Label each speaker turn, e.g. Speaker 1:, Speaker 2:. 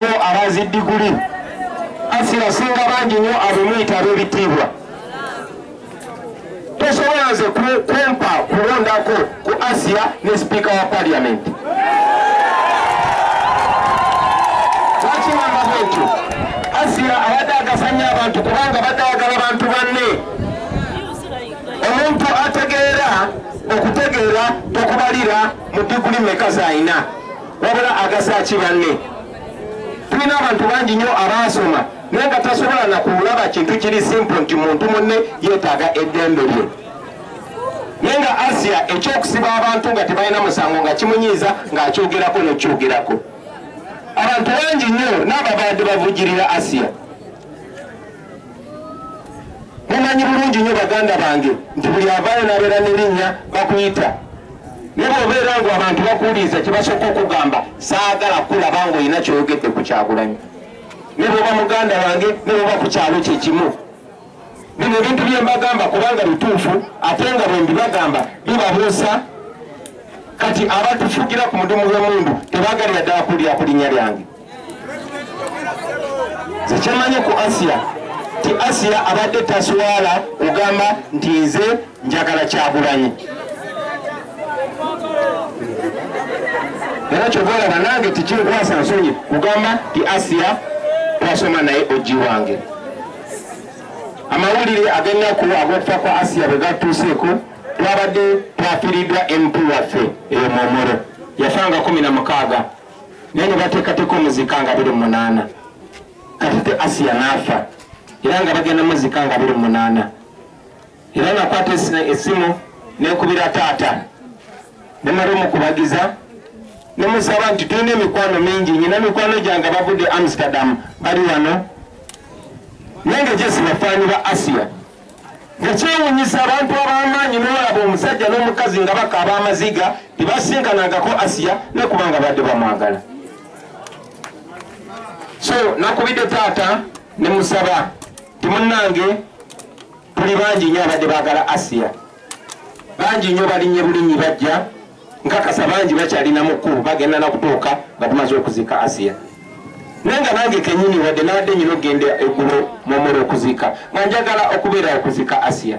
Speaker 1: abazi diguli asira singa bangi nnyo abemuyita ab'ebitiibwa tosobola nze kumpa kulondako ku asiya ne sipiika wa paliamenti wakimamba bwekyo asiya abadde agasanya abantu kubanga badde ayagala bantu banne omuntu ategeera okutegeera tokubalira mu diguli meka zalina wabula agasa ki banne tulina abantu bangi nnyo abaasoma naye nga tasobola nakulaba kintu kiri simple nti muntu munne yeetaaga eddembe lye naye nga asia ekyokusiba abantu nga tebalina musango nga kimunyiiza ng'akyogerako nekyogerako abantu bangi nnyo n'ababadde bavujirira asia mumanyi bulungi nnyo baganda bange nti buli avaayo n'abeera n'erinnya bakuyita ne bwobeera ngu abantu bakuwuliriza kibasooka okugamba saagala kulaba ng'olina kyoyogedde ku kyagulanyi ne bwoba muganda wange ne bwoba ku kyalo kye kimu bino ebintu bye mbagamba kubanga bituufu ate nga bwe mbibagamba bibabuusa kati abatufugira ku mudumu gw'emundu tebagalira ddala kulira ku linnya lyange zekyamanyi ku asiya ti asiya abadde taswala kugamba nti nze njagala kyagulanyi era kyovaola banange tikikwasa nsonyi kugamba ti asiya twasoma naye oji wange amawulire agennaku agokufa kwa asiya bwegatuuseeko twabadde twafiridwa mp waffe eyo momoro yafanga kumi na mukaaga naye ne bateekateeka omuzika nga biri munaana kati te asiya n'afa era nga bagenda muzika nga biri munaana era nakwata esimu nekubira taata nemali omukubagiza nemusaba nti tulina emikwano mingi nyina mikwano gyange bavudde amsterdam bali wano nange jesi bafaani ba asiya ekyewunyisa abantu abamaanyi nolaba omusajja n'omukazi nga bakaaba amaziga tebasinkanangako asiya nekubanga badde bamwagala so nakubidde taata nemusaba timunange tuli bangi nyo abadde bagala asiya bangi nyo balinye bulinyi bajja nkakasa bangi bakyalina mukkulu bagenda nakutuuka nga tumaze okuziika asiya naye nga nange kenyini wadde nabadde nyina okugenda eggulo mumula okuziika nga njagala okubeera okuziika asiya